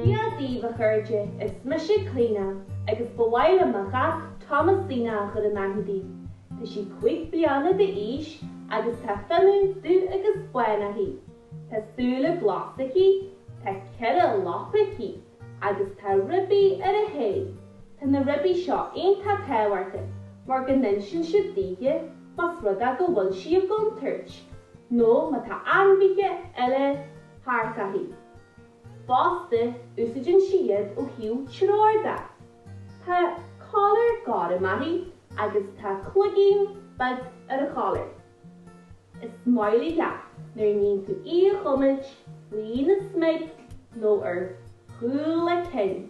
Dia dhaoibh a chairde, is mise Cliodhna agus ba mhaith liom mo chat Thomasina a chur in aithne daoibh. Tá sí cúig bliana d'aois agus tá fionnadh dubh agus bán aici. Tá súile glasa aici, tá ceithre lapa aici agus tá ribí ar a haghaidh. Tá na ribí seo iontach tábhachtach mar go n-insíonn siad daoithe más rud é go bhfuil sí i gcontúirt nó má tá ainmhithe eile thart uirthi. Fosta, úsáideann sí iad ó thaobh treoir de. Tá collar gorm uirthi agus tá cloigín beag ar a collar. Is maith léi nuair a níonn tú í a chuimilt faoina smig nó ar chúl a cinn.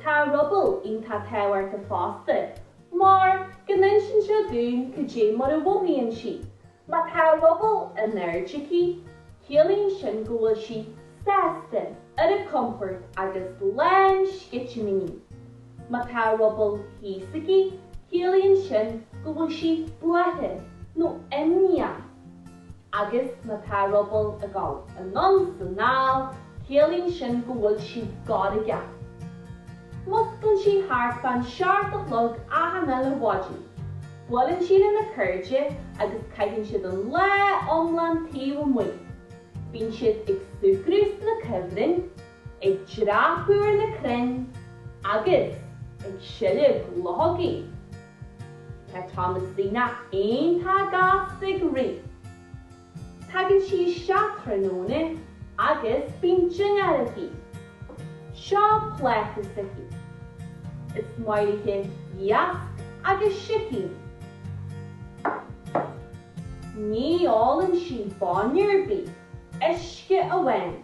Tá a ruball iontach tábhachtach fosta mar go n-insíonn sé dúinn cad é mar a mhothaíonn sí. Má tá a ruball in airde aici, ciallaíonn sin go bhfuil sí sásta, ar a compord agus lán sceitimíní. Má tá a ruball thíos aici, ciallaíonn sin go bhfuil sí buartha nó imníoch. Agus má tá a ruball ag dul anonn is anall, ciallaíonn sin go bhfuil sí gairgeach. Músclann sí thart fán seacht a chlog achan uile mhaidin, buaileann sí lena cairde agus caitheann siad an lá iomlán taobh amuigh. Bíonn siad ag súgradh sna cuibhrinn, ag dreapadh ar na crainn agus ag seilg luchógaí. Tá Thomasina iontach gasta ag rith. Tagann sí isteach tráthnóna agus bíonn dinnéar aici. Seo pláta s'aici. Is maith léi iasc agus sicín. Ní ólann sí bainne ar bith, uisce amháin.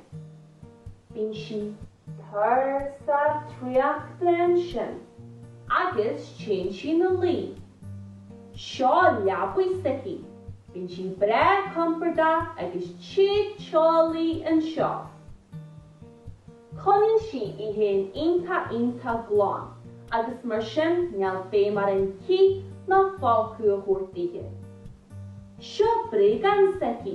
Bíonn sí tuirseach traochta ansin, agus téann sí ina luí. Seo leabaidh s'aici. Bíonn sí breá compordach agus te teolaí anseo. Coinníonn sí í féin iontach iontach glan agus mar sin níl feidhm orainn cith ná folcadh a thabhairt daoithe. Seo bréagán s'aici.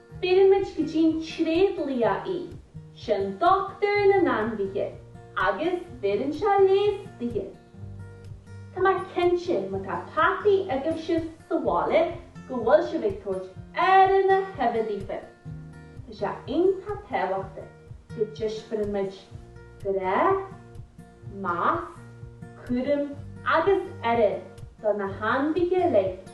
Bheirimid go dtí'n tréadlia í, sin dochtúir na n-ainmhithe, agus bheireann sé leigheas daoithe. Tá mé cinnte má tá peataí agaibhse sa bhaile go bhfuil sibh ag tabhairt aire na huibhe daofa. Tá sé iontach tábhachtach go dtaispeánaimid grá, meas, cúram agus aire do na hainmhithe uilig.